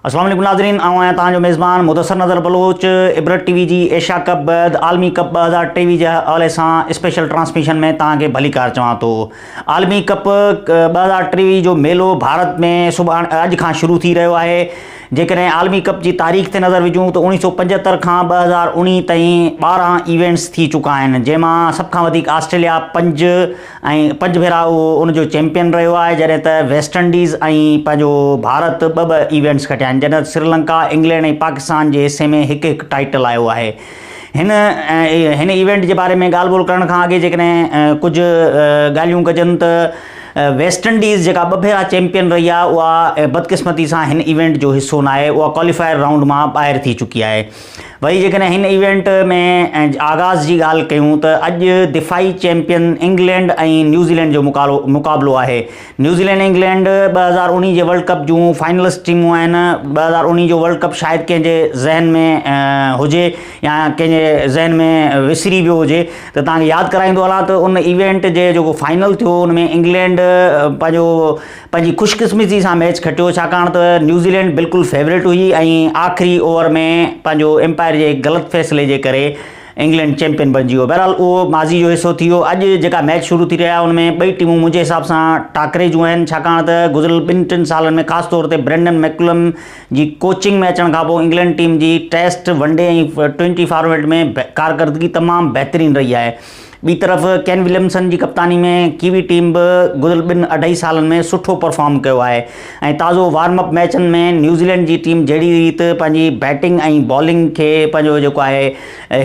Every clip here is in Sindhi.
اسلام عليڪم ناظرين آئون آهيان تهان جو ميزبان مدثر نظر بلوچ عبرت ٽي وي جي ايشيا ڪپ بعد عالمي ڪپ ٻه هزار ٽيويهه جي حوالي سان اسپيشل ٽرانسميشن ۾ تهان کي ڀلي ڪار چوان ٿو عالمي ڪپ ٻه هزار ٽيويهه جو ميلو ڀارت ۾ سڀاڻ اڄ کان شروع ٿي رهيو آهي جيڪڏهن عالمي ڪپ جي تاريخ تي نظر وجهون ته اوڻيهه سؤ پنجهتر کان ٻه هزار اوڻيهه تائين ٻارهن ايونٽس ٿي چڪا آهن جنهن مان سڀ کان وڌيڪ آسٽريليا پنج ۽ پنج ڀيرا اهو ان جو چيمپيئن رهيو آهي جڏهن ته ويسٽ انڊيز ۽ پنهنجو ڀارت ٻه ٻه ايونٽس کٽيا آهن جڏهن ته سريلنڪا انگلينڊ ۽ پاڪستان جي حصي ۾ هڪ هڪ ٽائيٽل آيو آهي هن هن ايونٽ جي باري ۾ ڳالهه ٻولهه ڪرڻ کان اڳي جيڪڏهن ڪجهه ڳالهيون ڪجن ته ويسٽ انڊيز جيڪا ٻه ڀيرا چيمپيئن رهي آهي اها بدقسمتي سان هن ايونٽ جو حصو ناهي اها ڪواليفائر رائونڊ مان ٻاهر ٿي چڪي آهي وري جيڪڏهن هن ايونٽ ۾ آغاز جي ڳالهه ڪيون ته اڄ دفاعي چيمپيئن انگلينڊ ۽ نيوزيلينڊ جو مقابلو آهي نيوزيلينڊ انگلينڊ ٻه هزار اڻيهه جي ورلڊ ڪپ جون فائنلسٽ ٽيمون آهن ٻه هزار اڻيهه جو ورلڊ ڪپ شايد ڪنهن جي ذهن ۾ هجي يا ڪنهن جي ذهن ۾ وسري ويو هجي ته توهان کي ياد ڪرائيندو هلان ته ان ايونٽ جي جيڪو فائنل ٿيو ان ۾ انگلينڊ پنهنجو پنهنجي خوش قسمتي سان ميچ کٽيو ڇاڪاڻ ته نيوزيلينڊ بلڪل فيوريٽ هئي ۽ آخري اوور ۾ پنهنجو امپائر جي غلط فيصلي جي ڪري انگلينڊ چيمپيئن بڻجي ويو بهرحال اهو ماضي جو حصو ٿي ويو اڄ جيڪا ميچ شروع ٿي رهي آهي ان ۾ ٻئي ٽيمون منهنجي حساب سان ٽاڪري جون آهن ڇاڪاڻ ته گذريل ٻن ٽن سالن ۾ خاص طور تي برينڊن ميڪڪلم جي ڪوچنگ ۾ اچڻ کانپوء انگلينڊ ٽيم جي test, one day ۽ twenty format ۾ ڪارڪردگي تمام بهترين رهي آهي. ٻي طرف ڪين وليمسن جي ڪپتاني ۾ ڪيوي ٽيم به گذريل ٻن اڍائي سالن ۾ سٺو پرفارم ڪيو آهي ۽ تازو وارم اپ ميچن ۾ نيوزيلينڊ جي ٽيم جهڙي ريت پنهنجي بيٽنگ ۽ بالنگ کي پنهنجو جيڪو آهي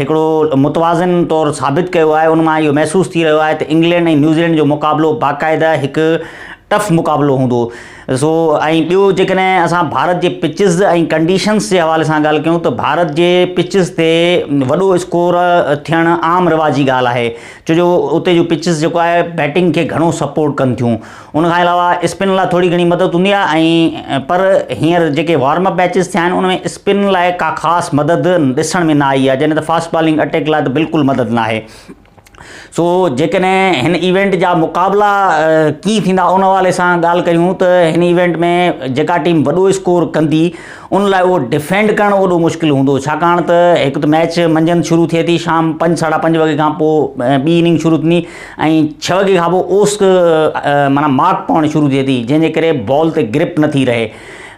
هڪڙو متوازن طور ثابت ڪيو آهي ان مان اهو محسوس ٿي رهيو آهي ته انگلينڊ ۽ نيوزيلينڊ جو مقابلو باقاعده هڪ ٽف مقابلو هوندو. ڏسو ۽ ٻيو جيڪڏهن اسان ڀارت جي پچز ۽ ڪنڊيشنز جي حوالي سان ڳالهه ڪيون ته ڀارت جي پچز تي وڏو اسڪور ٿيڻ عام رواجي ڳالهه آهي ڇو جو اتي جو پچز جيڪو آهي بيٽنگ کي گهڻو سپورٽ ڪن ٿيون ان کان علاوه اسپن لاء ٿوري گهڻي مدد هوندي آهي ۽ پر هينئر جيڪي وارم اپ ميچز ٿيا آهن ان ۾ اسپن لاء ڪا خاص مدد ڏسڻ ۾ نه آئي آهي جڏهن ته فاسٽ بالنگ اٽيڪ لاء ته بلڪل مدد ناهي سو جيڪڏهن هن ايونٽ جا مقابلا ڪي ٿيندا ان حوالي سان ڳالهه ڪيون ته هن ايونٽ ۾ جيڪا ٽيم وڏو اسڪور ڪندي ان لاء اهو ڊفينڊ ڪرڻ وڏو مشڪل هوندو ڇاڪاڻ ته هڪ ته ميچ منجهند شروع ٿئي ٿي شام پنج ساڍا پنج وڳي کان پوء ٻي اننگ شروع ٿيندي ۽ ڇهه وڳي کان پوء اوسڪ مانا ماڪ پوڻ شروع ٿئي ٿي جنهن جي ڪري بال تي گرپ نٿي رهي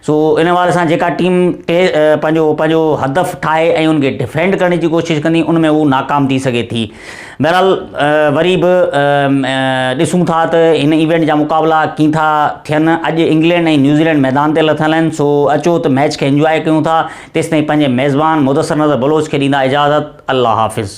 سو ان حوالي سان جيڪا ٽيم ٽي پنهنجو پنهنجو هدف ٺاهي ۽ ان کي ڊفينڊ ڪرڻ جي ڪوشش ڪندي ان ۾ هو ناڪام ٿي سگهي ٿي بهرحال وري به ڏسون ٿا ته هن ايونٽ جا مقابلا ڪين ٿا ٿين اڄ انگلينڊ ۽ نيوزيلينڊ ميدان تي لٿل آهن سو اچو ته ميچ کي انجواء ڪيون ٿا تيستائين پنهنجي ميزبان مدثر نظر بلوچ کي ڏيندا اجازت الله حافظ